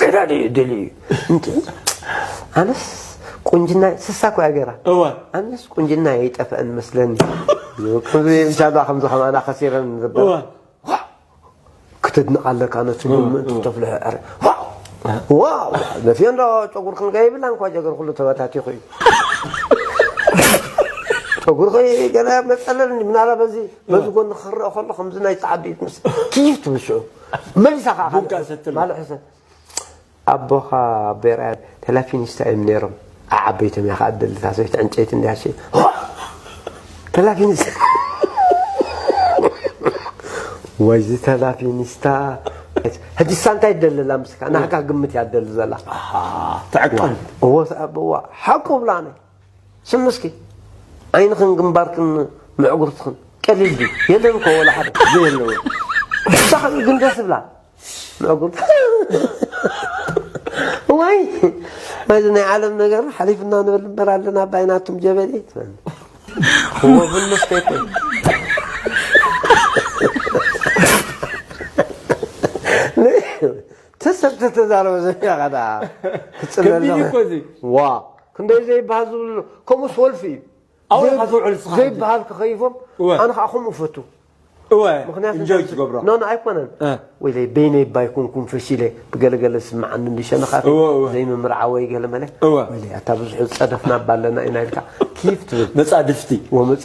ተዳዲ እዩ ድል እዩ ኣነስ ቁንጅና ስሳ እኮ እያ ገይራ እወ ኣነስ ቁንጅና ይጠፍአን መስለኒ ብቻዳ ከምዚ ከማና ከሲረን ዝብል ክትድንቕ ኣለካ ነቲ ምእንቲ ተፍልሖ ዕረ ዋው ነፍዮ እንዶ ጨጉር ክንገ ይብላ እንኳ ጀገር ኩሉ ተበታቲኹ እዩ ጨጉርኺ ገለ መፀለል ምናላ በዚ በዚ ጎኒ ክረአ ከሎ ከምዚ ናይ ፀዓዱ እዩ ትምስ ትይፍ ትብል ሽዑ መልሳ ከኣ ቡጋ ሰትሎ። ማል ሕሰ ኣቦኻ ኣቦይ ርኣያ ተላፊኒስታ እዮም ነይሮም ኣዓበይቶም እያ ከኣ ትደሊ እታ ሰበይቲ ዕንጨይቲ እንድያ ሸይ ተላፊኒስታ ወይ እዚ ተላፊኒስታ ሕጂሳ እንታይ ትደሊ ኣላ ምስካ ናህካ ግምት እያ ትደሊ ዘላ ኣሓ ተዕቀን እዎ ሰ- እዋ ሓቁ ብላ ነይ ስምስኪ ዓይንኽን ግንባርክን ምዕጉርትኽን ቀሊል ድዩ የለን እኮ ወላ ሓደ ዘየለወ ብጣዕሚ እዩ ግን ደስ ዝብላ ምዕጉርት ዋይ ናይዚ ናይ ዓለም ነገር ሓሊፍና ንብል እምበር ኣለና ኣባይ ናቱም ጀበሊ እዎ ቡን መስተይ ኮይ ተሰብ ተተዛረበ ዘፊኻ ዳ ክትፅለሎ ከቢድ እዩ እኮ እዚ። ዋ ክንደይ ዘይብሃል ዝብሉ ኣሎ ከምኡስ ወልፊ እዩ ኣበይ ኢኻ ትውዕል ንስኻ ሕጂ? ዘይብሃል ተኸይፎም እወ። ኣነ ከዓ ከምኡ እፈቱ እወ ምክንያቱ እንጆይ እዛ- ትገብሮ ኖ ኖ ኣይኮነን እ። ወይለይ በይነይ እባ ኣይኮንኩም ፈሺለ ብገለገለ ዝስምዓኒ እንዲ ሸነኻት እወ፣ እወ። ዘይምምርዓ ወይ ገለመለ እወ። ወይለይ ኣታ ብዙሕ ዝፀደፍና እባ ኣለና ኢና ኢልካ ኪፍ ትብል መጻድፍቲ ወመፃ